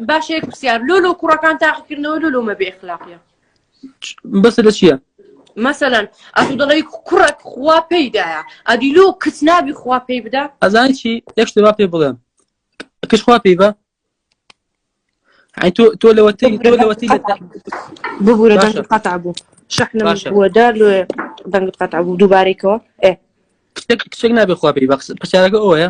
باشێک پرسیار لۆ لۆ کوڕەکان تاقیکردنەوە لۆ لۆمە بێ اخلاقە بەس لە چییە؟ مەسەەن ئەتو دەڵی کوڕک خوا پێیدایە ئەدی لۆ کچ نابی خوا پێی بدا ئەزانی چی یەک شتێ پێ بڵێم کچ خوا پێی بە تۆ تۆ لەوەتی تۆ لەوەتی ببوورە دەنگت قەتع بوو شەحنە بووەدا لێ دەنگت قەتع بوو دووبارێکەوە ئێ کچێک نابێ خوا پێی بەقس پرسیارەکە ئەوەیە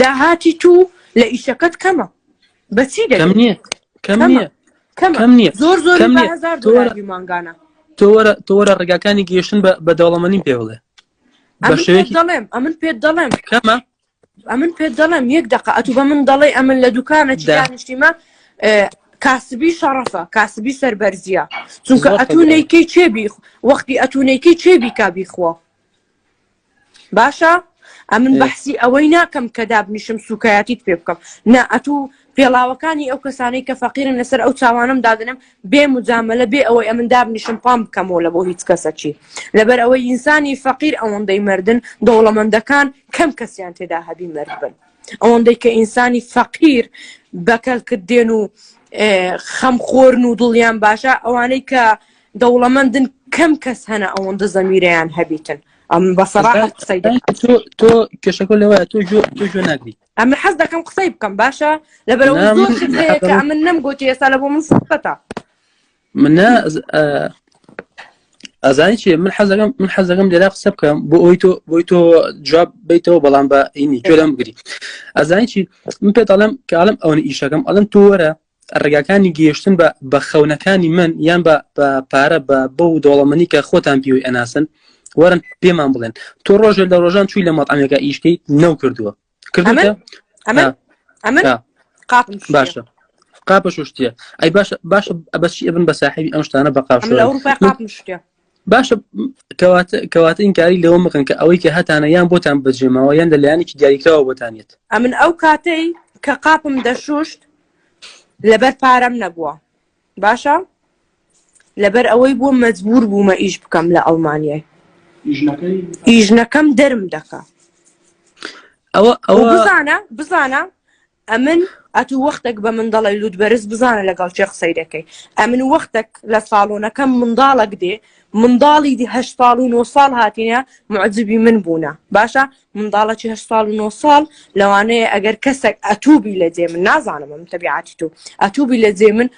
داهاتی توو لە ئیشەکەت کەمە بەچی دەکەم نییە کەم نییە کەم نییە زۆر زۆر هزار دۆلاری مانگانە تۆوەرە تۆوەرە ڕێگاکانی گەیشتن بە بەدەوڵەمەنی پێ بڵێ دەڵێم ئەمن پێت دەڵێم کەمە ئەمن پێت دەڵێم یەک دقە ئەتو بە من دەڵێ ئەمن لە دوکانە دانیشتیمە کاسبی شەڕەفە کاسبی سەربەرزیە چونکە ئەتونێکی چێبی وەختی ئەتونێکی چێبی کا بیخوا باشە ئەمن بەحسی ئەوەی ناکەم کە دابنیشم سوکایەتیت پێ بکەم نا ئەتوو پێڵاوەکانی ئەو کەسانەی کە فەقیرن لەسەر ئەو چاوانم دادنم بێ مجاملە بێ ئەوەی ئەمن دابنیشم پام بکەمەوە لە بۆ هیچ کەسەکی لەبەر ئەوەی ئینسانی فەقیر ئەوەندەی مردن دەوڵەمەندەکان کەم کەسیان تێدا هەبی مرد بن ئەوەندەی کە ئینسانی فەقیر بەکەلکت دێن و خەمخۆرن و دڵیان باشە ئەوانەی کە دەوڵەمەندن کەم کەس هەنە ئەوەندە زەمیرەیان هەبیتن ئەم بەسەڕاحەت قسەی تۆ کێشەکە لەوە تۆ تۆ جۆ ناگریت ئەمە حەز دەکەم قسەی بکەم باشە لەبەرەوە زۆر هەیە من نەم گوتی ئێستا لە بۆ من سەتا من ئازانی چێ من حەزەکەم من حەزەکەم لێرا قسە بکەم بۆ ئەوی تۆ بۆی تۆ جواب بیتەوە بەڵام بە ئینی جۆرم بگری ئازانی چی من پێ دەڵم کاڵم ئەوەن ئیشەکەم ئەڵم تۆ وەرە ڕێگاکانی گەیشتن بە بە خەونەکانی من یان بە پارە بە بە و دەوڵەمەنی کە خۆتان پیوی ئەناسن وەرن پێمان بڵێن تۆ ڕۆژێ لە ڕۆژان چووی لە مەڵامێکە ئیشکەیت نەو کردووە کردوە باشە قاپە شوشتە ئەی باشە باشە بەچی ئەبن بە ساحبی ئەم شتانە بە قاپ باشە کەواتە کەواتە ئینکاری لەوە مەکەن کە ئەوەی کە هەتانە یان بۆتان بەجێماوە یان لە لایەنێکی دیاریکراوە بۆتانێت ئەمن ئەو کاتەی کە قاپم دەشوشت لەبەر پارەم نەبووە باشە لەبەر ئەوەی بووم مەجبور بوومە ئیش بکەم لە ئەڵمانیای ئیژنەکەم دەرم دەکا ئەوە ئەوە بزانە بزانە ئەمن ئەتوو وەختێک بە من دەڵێ لووت بەرز بزانە لەگەڵ چێ قسەی دەکەی ئەمن وەختێک لە ساڵۆنەکەم منداڵک دێ منداڵی دی هە ساڵ و نۆ ساڵ هاتیە معجبی من بوونە باشە منداڵەکی هە ساڵ و نۆ ساڵ لەوانەیە ئەگەر کەسێک ئەتوبی لە جێ من نازانم من تەبیعاتی تو ئەتوبی لە جێ من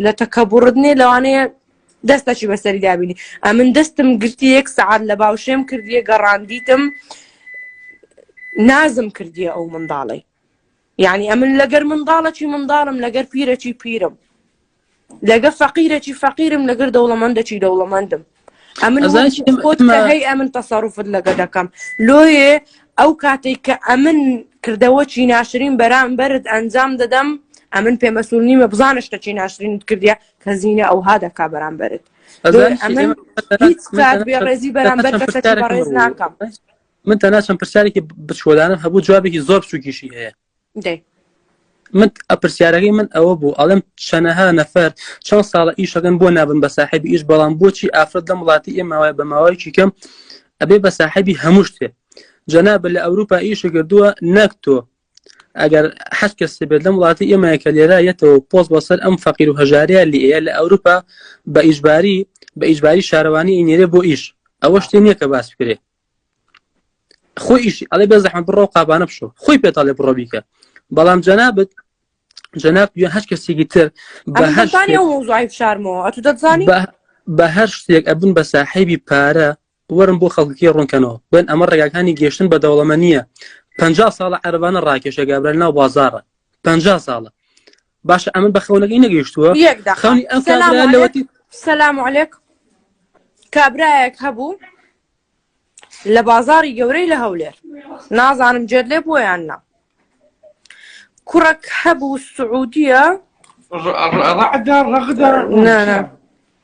لە تەکەبڕدنێ لەوانەیە دەستەکی بەسەری دابینی ئەمن دەستم گرتی یەک سعات لە باوشێم کردیە گەڕاندیتم نازم کردیە ئەو منداڵی یعنی ئەمن لەگەر منداڵەکی منداڵم لەگەر پیرەکی پیرم لەگە فەقیرەکی فەقیرم لەگەر دەوڵەمەندەکی دەوڵەمەندم ئەمن هەی ئەمن تەسەڕوفت لەگە دەکەم لۆیێ ئەو کاتێک کە ئەمن کردەوەکی ناشرین بەرامبەرت ئەنجام دەدەم ئەمن پێمەسول نیمە بزانە شتەکی ناشرینت کردە کە زیینە ئەو ها دەکا بەرامبەرت هیچ کات بێڕێزی بەرامبەر کەسەکە بەڕێز ناکەم من تەنها چەند پرسیارێکی بچکۆدانم هەبوو جوابێکی زۆر بچووکیشی هەیە من ئەپرسیارەکەی من ئەوە بوو ئەڵم چەنەها نەفەر چەند ساڵە ئیشەکەن بۆ نابن بە ساحبی ئیش بەڵام بۆچی ئافرەت لەم وڵاتی ئێماوای بە ماوەیەکی کەم ئەبێ بە ساحبی هەموو شتێ جەناب لە ئەوروپا ئیشە کردووە نەک تۆ ئەگەر حەج کەس بێت لەم وڵاتی ئێمەیە کە لێرە یەتەوە پۆست بەسەر ئەم فەقیر و هەژاریا لێە لە ئەوروپا بە ئیشباری بە ئیشباری شارەوانی ئینێرێ بۆ ئیش ئەوە شتێ نییە کە باس بکرێت خۆیش ئەڵێ بێ زەحمە بڕۆ قابانە بشۆ خۆی پێ تاڵێ بڕۆ بیکە بەڵام جەنابەت جەناب یا هەر کەسێکی تر بە هەر شارمەوە ئەتو دەزانی بە هەر شتێک ئەبن بە ساحیبی پارە وەرم بۆ خەڵکی ڕوونکەنەوە بن ئەمە ڕێگاکانی گەشتن بە دەوڵەمە نییە پ ساڵە عەربانە ڕاکێشە گابرا ناو بازارە پ ساڵە باشە ئەمن بە خەونەکەی نەگەیشتووە یەک دەقە. خەونی ئەم سەلام کابرا علیک لەوەتی سەلام علیک کابرایەک هەبوو لە بازاڕی گەورەی لە هەولێر نازانم جێت لێ بووە یان نا کوڕەک هەبوو سعودیە ڕ- ڕ- ڕعدا ڕەغدا نا، نا.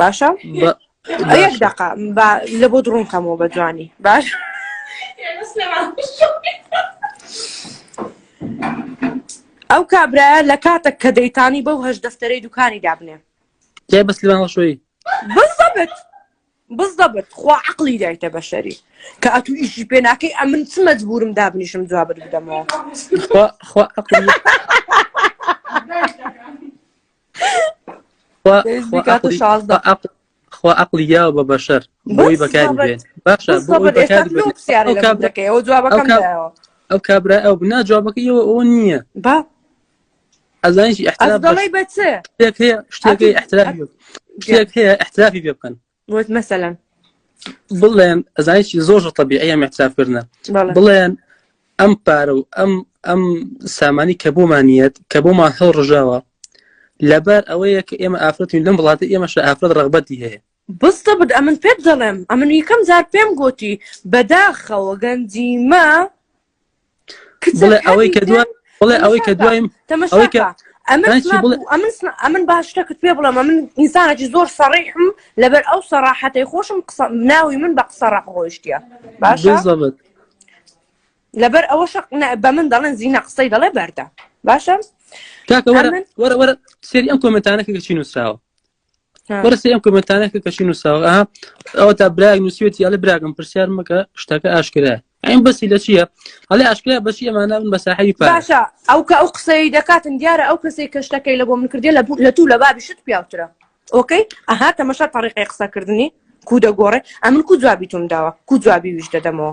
باشە یەک دقا لە بۆ دڕونکەمەوە بە جوانی باش ئەو کابراە لە کاتە کە دەیتانی بەو هەش دەفتەرەی دوکانی دابنێ جای بەس لەوانشۆی بزەبت بزەبت خوا عقلی دایتە بەشەری کە ئەتو ئیشی پێناکەی ئەمن چ مەجبورم دابنیشم جواب بدەمەوە خوا عقلی یا بە بەشەر بۆی بەکاری بێن باشە ئەو کابرا ئەو بنا جوابەکە یەوە ئەو نییە با ئەزانیشی ئەحتراڵی بە چ شتێک هەیە شتێک هەیە ئەحتراڵی شتێک هەیە ئەحترافی پێ بکەن وت مەسەلەن بڵێن ئەزانیی زۆر تەبیعە مەترافکردە بڵێن ئەم پارە و ئەم ئەم سامانی کە بۆمانیت کە بۆمان هەڵ ڕژاوە لەبەر ئەوەیە کە ئێمە ئافرەتین لەم وڵاتە ئێمەش ئافرەت ڕغبەتی هەیە بستە بد ئەمن پێت دەڵێم ئەمن یکەم زار پێم گوتی بەداخەوە گەنجیمە ئەمن باش شتەکەت پێ بڵێ من ئینسانێکی زۆر سەڕیحم لەبەر ئەو سەراحەتی خۆشم قسە ناوی من بە قسە ڕق ڕۆیشتە باش لەبەر ئەوە شق بە من دەڵێن زیینە قسەی دەڵێ بەردە باشە سێری ئەم کۆمنتانەکە چی نووسراوە بەرسی ئەم کمنتانە کە کەچی نووساوە ئەوە تا براگ نووسێتی ئەلە براگەم پرسیار مەکە شتەکە ئاشکرا ئەم بەسی لە چییە ئەلێ ئاشکرا بەسی ئەمانە من بە ساحەوی پاشە ئەو کە ئەو قسەی دەکاتن دیارە ئەو کەسی کە شتەکەی لە بۆ من کردی لە لە تو لە بابی شت پیاوترە ئۆکەی ئەها تەمەشا تەڕیقی قسەکردنی کو دەگۆڕێ ئەمن کو جوابی تۆم داوە کو جوابی ویش دەدەمەوە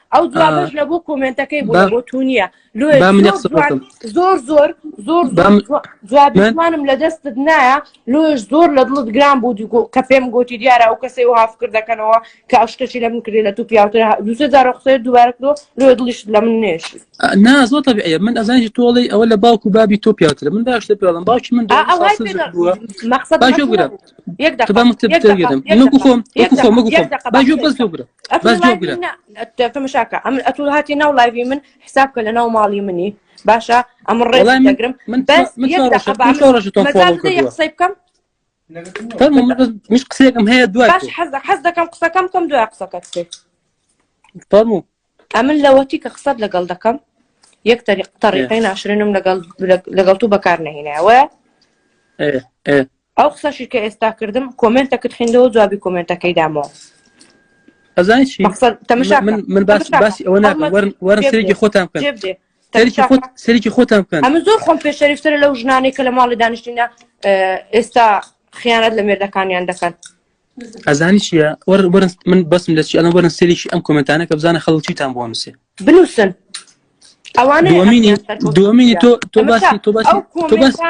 ئەو جوابش لە بۆ کۆمنتەکەی بوو بۆ تو نییە زۆر زۆر زۆر جوابمانم لە دەستت نایە لۆش زۆر لە دڵت گران بوو کە پێم گوتی دیارە ئەو کەسی و هافکر دەکەنەوە کە ئەشتەشی لە من کرێ لە تو پیاوتر دوسێ جارە قسەی دووارە کرۆ لۆ دڵیش لە من نێش نا زۆر تەبعە من ئەزانانی تۆڵی ئەوە لە باوکو بابی تۆ پیاوتر من باش لە پێڵم باوکی من مەخصەت تەمەشاکە ئەم ئەتو هاتی ناو لایوی من حساب کە لە ناو ماڵی منی باشە ئەم ڕێگرم من قسەی بکەم مش قسەکەم هەیە دو حەز دەکەم قسەکەم کەم دوای قسەکەت فەرمو ئەمن لەوەتی کە قسەت لەگەڵ دەکەم یەک تەریق تەریقی ناشرێنم لەگەڵ لەگەڵ تو بەکار نهینەوە ئەو قسەشی کە ئێستا کردم کۆمێنتەکت خوێندەوە جوابی کۆمێنتەکەی دامەوە ئەزای چی مەقصد تەمەشا من من باس تەمەشا باسی ئەوە ناکەم هەڵمەت وەرن وەرن جێ سەرێکی بدێ خۆتان بکەن جێ بدێ سەرێکی تەمەشا خۆت سەرێکی خۆتان بکەن ئەمە زۆر خۆم پێ شەریفترە لەو ژنانەی کە لە ماڵی دانیشتینە ئێستا خیانەت لە مێردەکانیان دەکەن ئەزانی چیە وەرن من بەسم لە چی ئەڵم وەرن سێریشی ئەم کۆمنتانە کە بزانە خەڵک چیتان بۆ نووسێ بنووسن دومینی تۆ تۆ باسی تۆ باسی تۆ باسی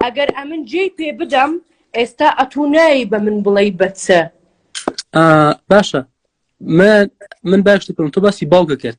ئەگەر ئەمن جێ پێ بدەم ئێستا ئەتونایی بە من بڵێ بەچە باشە من من باش دەکەم تۆ باسی باوکە کرد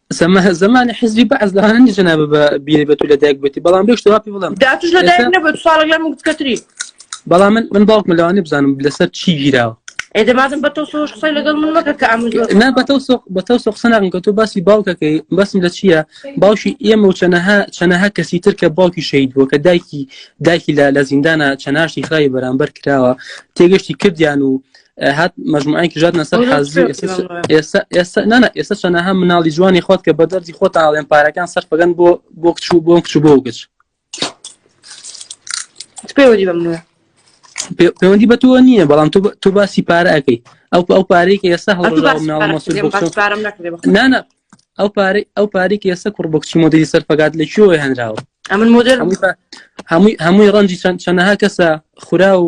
سەمە زمانی حزبی بەعز لە هەندی جنابە بە بیری بە تو لە دایک بێتی بەڵام بێش تەواپی بڵم داتش لە دایک نەبێت ساڵک لە مکتکەتری بەڵام من من باوکم لەوانی بزانم لەسەر چی گیراوە ئێدە مادم بە تۆ سۆش قسەی لەگەڵ من مەکە کە ئەم نا بە تۆ سۆق بە تۆ سۆق سەناغن کە تۆ باسی باوکەکەی بەسم لە چییە باوشی ئێمە و چەنەها چەنەها کەسی تر کە باوکی شەید بووە کە دایکی دایکی لە لە زیندانە چەناشی خراوی بەرامبەر کراوە تێگەشتی کردیان و هات مجموعەیەک ژاتنە سەر حەزی ئێستا نانا ئێستا چەنەها مناڵی جوانی خۆت کە بە دەردی خۆت ئاڵێن پارەکان سەرفەکەن بۆ بۆ کچ و بۆم کچ بۆ گچ پێوەدی بە منە پەیوەندی بە تۆ نییە بەڵام تۆ باسی پارە ئەەکەی ئەو ئەو پارەی کە ئێستا هەڵناە ئەو پارەی ئەو پارەی کە ئێستا کوڕ بکچی مۆدەی سەرفەکات لە کوێوە هەنراوە ئەمن مۆدل هەمووی هەمووی ڕەنجی چەند چەنەها کەسە خورا و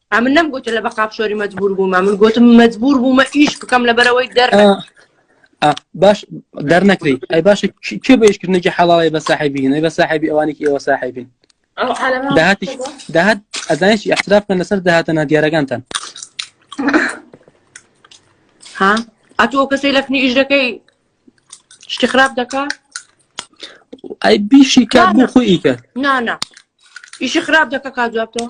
ئەمن نەم گوتە لە بەقاپ شۆری مەجبور بوومە من گوتم مەجبور بوومە ئیش بکەم لەبەرەوەی دەر باش دەرنەکری ئەی باشە کێ بەیشکردنێکی حەڵاڵی بە ساحبین بە ساحبی ئەوانێکی ئێوە ساحبین داهاتی داهات ئەزانش احتراف بکەن لەسەر داهاتە نادیارەکانتان ها ئەتۆ کەسی لەفنی ئیش دەکەی شتی خراپ دەکا ئەی بیشی کار بۆ خۆی ئیکە نانا ئیشی خراپ دەکە کا جوابتەوە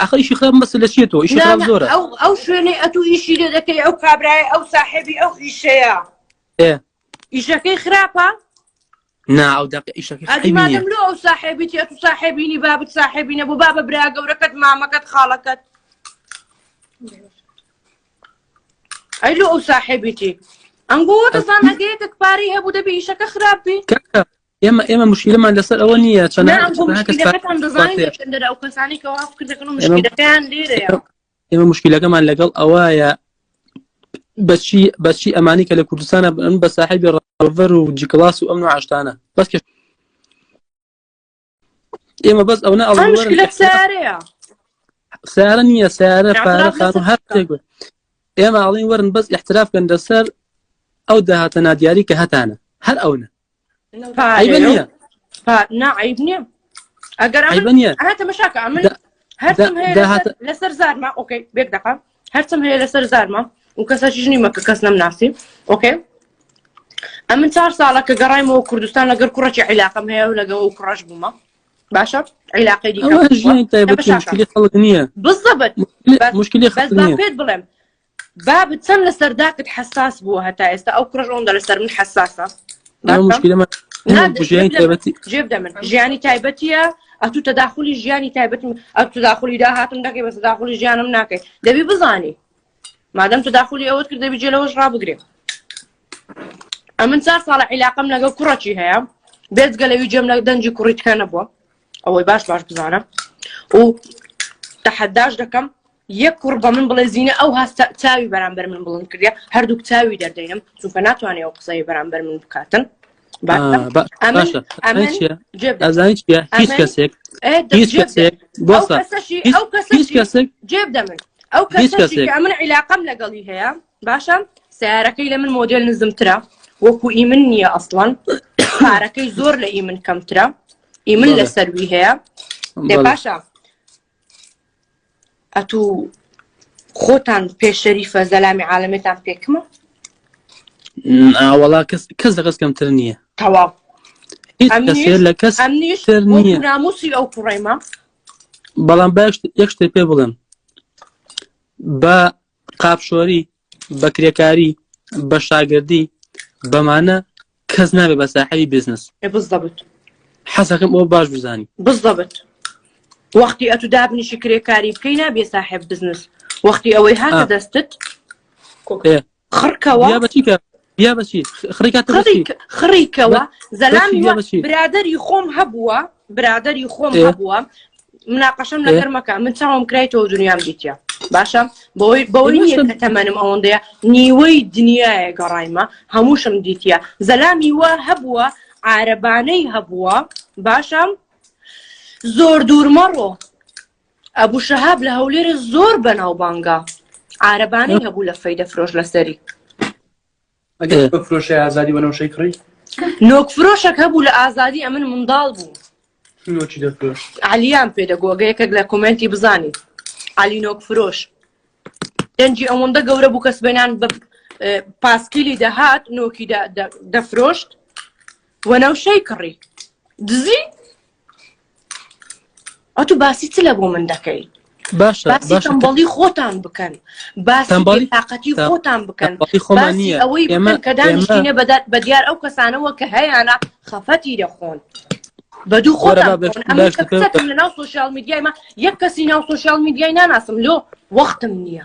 ئەخە ئیشی خراپ مەسە لە چێتەوە ئیشی خراپ زۆرە ئەو ئەو شوێنەی ئەتو ئیشی لێ دەکەی ئەو کابرای ئەو ساحێبی ئەو ئیشەیە ئیشەکەی خراپە نا ئەو دەق ئیشەکەی ئەدیمادەم لۆ ئەو ساحێبی تێت و ساحێبینی بابت ساحێبینە بۆ بابە برا گەورەکەت مامەکەت خاڵەکەت ئەی لۆ ئەو ساحێبیتی ئەنگۆ دەزان ئەگەیەکە پارەی هەبوو دەبێ ئیشەکە خراپ بێ ئێمە ئێمە مشکلمان لەسەر ئەوە نییە چەند ئێمە مشکلەکەمان لەگەڵ ئەوەیە بەچی بەچی ئەمانی کە لە کوردستانە بن بە ساحبی ڕڤەر و جیکلاس و ئەم و عشتانە بەس ئێمە بەس ئەوە ئەڵ سارە نییە سارە پارە خان هەر ئێمە ئاڵین وەرن بەس احتراف بن لەسەر ئەو داهاتە نادیاری کە هەتانە هەر ئەوە نعیب نییە ئەگەر تەمەشاکە ئەمن هەرم لەسەر زارما ئۆکەی بێک دەقا هەرچم هەیە لەسەر زارما و کەسەشیش نیمە کە کەس نەم ناسی ئۆکەی ئەمن چار ساڵە کە گەڕایمەوە کوردستان لەگەر کوڕەکی عیلاقم هەیە و لەگەڵ و کوڕەش بوومە باشە عیلاقی دیکە خەڵک نییە بزەبت مشکلی خەڵک نییە بەس بەپێت بڵێم بابت چەند لەسەر داکت حساس بووە هەتا ئێستا ئەو کوڕش ئەوەندە لەسەر من حساسە ئەمە مشکلەمە نا، ئەمە بژیانی جێبدە من تایبەتی جێبدە من ژیانی تایبەتیە ئەتوو تەداخلی ژیانی تایبەت ئەت تداخلی داهاتم دەکەی بە تداخلی ژیانم ناکەی دەبی بزانی مادەم تداخلی ئەوەت کرد دەبی جێ لەوەش ڕابگرێ ئەمن چار ساڵە عیلاقم لەگەڵ کوڕەکی هەیە بێزگە لەوی جێم لە دەنجی کوڕیتکە نەبووە ئەوەی باش باش بزانە و تەحەداش دەکەم یەک کوڕ بە من بڵێ زینە ئەو هەستە چاوی بەرامبەر من بڵند کردە هەردووک چاوی دەردەینم چونکە ناتوانێت ئەو قسەی بەرامبەر من بکاتن هیچ کەسێک هیچ کەسێک هیچ کەسێک جێب دەمن ئەو کەسێک من عیلاقم لەگەڵی هەیە باشە سیارەکەی لە من مۆدل نزمترە وەکو ئی من نییە ئەسڵان پارەکەی زۆر لە ئی من کەمترە ئی من لە سەروی هەیە باشە ئەتو خۆتان پێ شەریفە زەلامی عالەمێتان پێکمە ئاوەڵا کەس کەس لە کەس کەمتر نییە تەواو لە کەس ناموسی ئەو کوڕێمە بەڵام باش یەک شتێ پێ بڵێم بە قاپشۆری بە کرێکاری، بە شاگردی، بەمانە کەس نابێ بە ساحەبی بزنس. بالضبط. حەزەکەم ئەوە باش بزانی. بالضبط. وەختی ئەتو دابنیشی کرێکاری بکەی نابێ ساحب بزنس وەختی ئەوەی هاتە دەستت خڕکەوە. بیا بەچی خڕیکەوە زەلام برادری خۆم هەبووە برادری خۆم هەبووە مناقەشم لەگەر مەکە من چاوم کرای تۆ دنیام دیتە باشە بۆی بەوەی نیە کە تەمەنم ئەوەندەیە نیوەی دنیاە گەڕایمە هەمووشم دیتە زەلامی وە هەبووە عربانەی هەبووە باشم زۆر دوور مەڕۆ ئەبوو شەهاب لە هەولێرە زۆر بەناوبانگە عربانەی هەبوو لە فەیدە فرۆش لەسەری فرۆشی ئازادی بەنەوشەی کڕی نۆک فرۆشەک هەبوو لە ئازادی ئەمن منداڵ بوو نۆکی دەفرۆش علیان پێدەگۆگە یەکێک لە کومنتی بزانین علی نۆک فرۆش دەنجی ئەوەندە گەورە بوو کەس بێنان بە پاسکیلی دەهات نۆکی دەفرۆشت وەنەوشەی کڕی دزی ئەتو باسی چ لە بۆ من دەکەی باشەڵی خۆتان بکەن باسیڵی تااقەتی خۆتان بکەن خۆمانی ئەوەی کە دانیشتینە بەدات بە دیار ئەو کەسانەوە کە هەیەە خەفەتی دەخۆن بە دوو خۆ لە ناو سوۆسیال میدیایمە یەک کەسی ناو سوۆسیال میدیای ناناسم لۆ وەختم نییە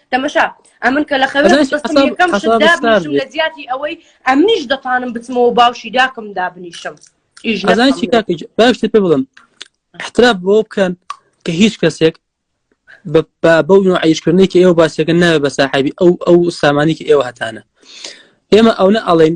تەمەشا ئەمن کە لە خەوێکەم لە زیاتی ئەوەی ئەمنیش دەتوانم بچمەوە باوشی داکم دابنیشم باشتر پێ بڵم احتراب بۆ بکەن کە هیچ کەسێک بەو عیشکردنێکی ئێوە باسەکە ناوێ بە ساحبی ئەو ئەو سامانێکی ئێوە هەتانە ئێمە ئەوە ئەڵێن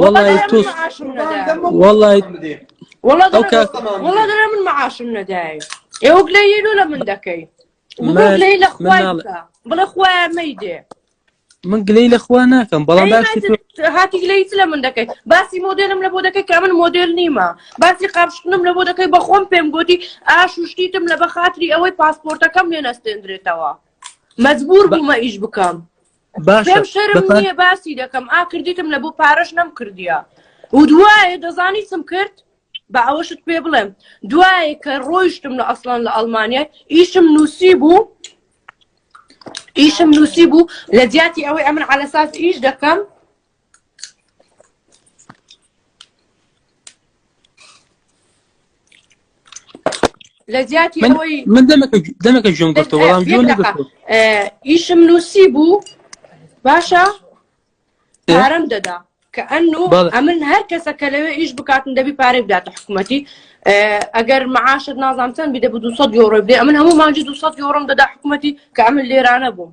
وەڵی تۆ وەڵی دەرە من مەعاشم نەدای ئێوەک لە یلو لە من دەکەی لەی لە خوای بڵێ خوای مەیدێ من گلەی لە خوا ناکەم بەڵام هاتی گلەیت لە من دەکەیت باسی مۆدلم لە بۆ دەکەی کە من مۆدل نیمە باسی قاپشتنم لە بۆ دەکەی بەخۆم پێم گوتی ئاش و شتیتم لە بەخاتری ئەوەی پاسپۆرتەکەم لێ نەستێندرێتەوە مەجبور بوومە ئیش بکەم باشە شەرم نیە باسی دەکەم ئا کردیتم لە بۆ پارەش نەم کردیا و دوایە دەزانی چم کرد بە ئەوەشت پێ بڵێم دوایە کە ڕۆیشتم لە ئەسڵان لە ئەلمانیا ئیشم نووسی بوو ئیشم نووسی بوو لە جیاتی ئەوەی ئەمن علەساس ئیش دەکەم لە جیاتی ئەوەی من دەمەکە ژم گفتە وەڵام ئیشم نووسی بوو باشە پارەم دەدا کە ئەن و ئەمن هەر کەسە کە لەوێ ئیش بکاتن دەبی پارێ بداتە حکوومەتی ئەگەر معاشت نازانچەند بدە بە 200 یۆڕۆ بدێ ئەمن هەموو ماجی 200 یۆڕم دەدا حکوومەتی کە ئەمن لێرانە بووم